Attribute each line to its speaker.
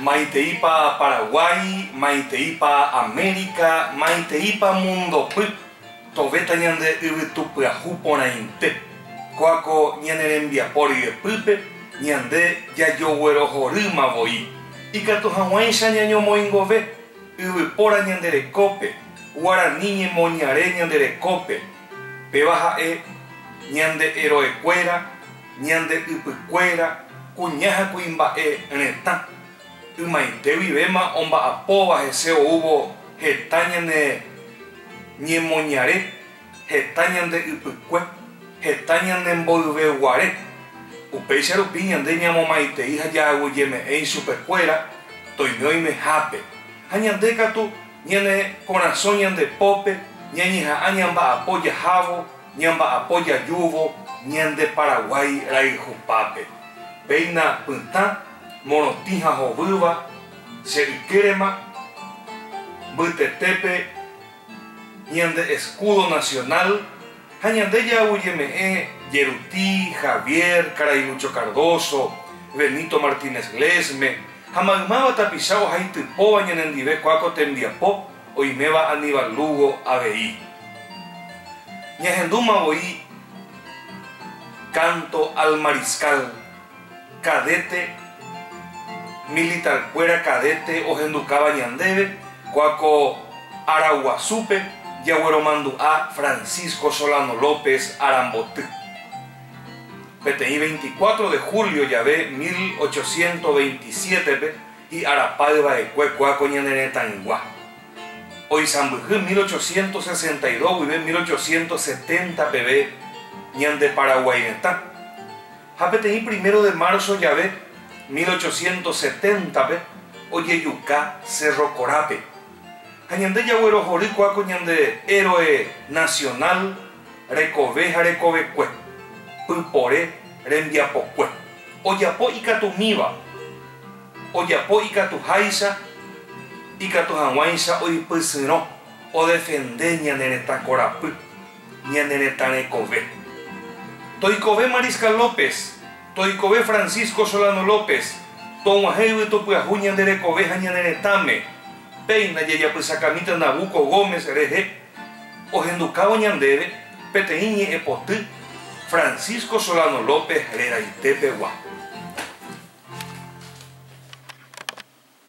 Speaker 1: Maiteípa Paraguái, maiteípa Amérika, maiteípa mundopy, tovéta ñande yvytu pyahu porãite. Kóako ñane rembiapo ryepýpe ñande jajoguerohorýma voi. Ikatu hag̃uáicha ñañomoingove yvypóra ñande rekópe, guarani ñemoñare ñande rekópe, Péva ha'e, ñande eroekuéra, ñande ypykuéra, kuña ha kuimba'e retã. Ymaite guivéma omba'apóva hese oúvo heta ñane ñemoñare, heta ñande ypykue, heta ñane mboyve guare. Upéicha rupi ñande ñamomaitei ha jaaguyjeme'ẽ ichupekuéra toiñóimehápe, ha ñande katu Ñane korasõ ñande pópe ñañeha'ã ñamba'apo jahávo, ñamba'apo jajúvo ñande Paraguái rayhupápe. Péina pytã, morotĩ ha hovýva, che ykérema mbytetépe ñande escúdo nacional Ha ñande ja'aguyjeme'ẽ Jeruti, Javier, karai Lucho Cardoso, Benito Martínez Glesme, ha maymáva tapicha ohaitypóva ñanendive kua ko tembiapo oiméva Aníbal Lugo avei. Ñahendúma voi Canto al Mariscal. Cadete, Militarkuéra cadete ohendukáva ñandéve kua ko Araguasúpe jagueromandu'a Francisco Solano López aramboty. Peteĩ 24 de julio jave 1827-pe hi'arapáy vaekue kua ko ñane retãygua. Oisãmbyhy 1862 guive 1870 peve ñande Paraguay retã. Ha peteĩ primero de marzo jave, mil ochocientos setenta-pe, ojejuka Cerro Corápe. Ha ñande jaguerohory kua ko ñande héroe nacional rekove ha rekovekue, pypore rembiapokue. Ojapo ikatumíva, ojapo ikatuháicha, ikatu hag̃uáicha oipysyrõ, odefende ñane retã korapy, Ñane retã rekove. Toikove Mariscal López, toikove Francisco Solano López, tog̃uahẽ yvytu pyahu ñande rekove ha ñane retãme, péina jajapysakamíta Nabuco Gómez rehe, ohendukávo ñandéve peteĩ ñe'ẽ poty Francisco Solano López reraite pegua.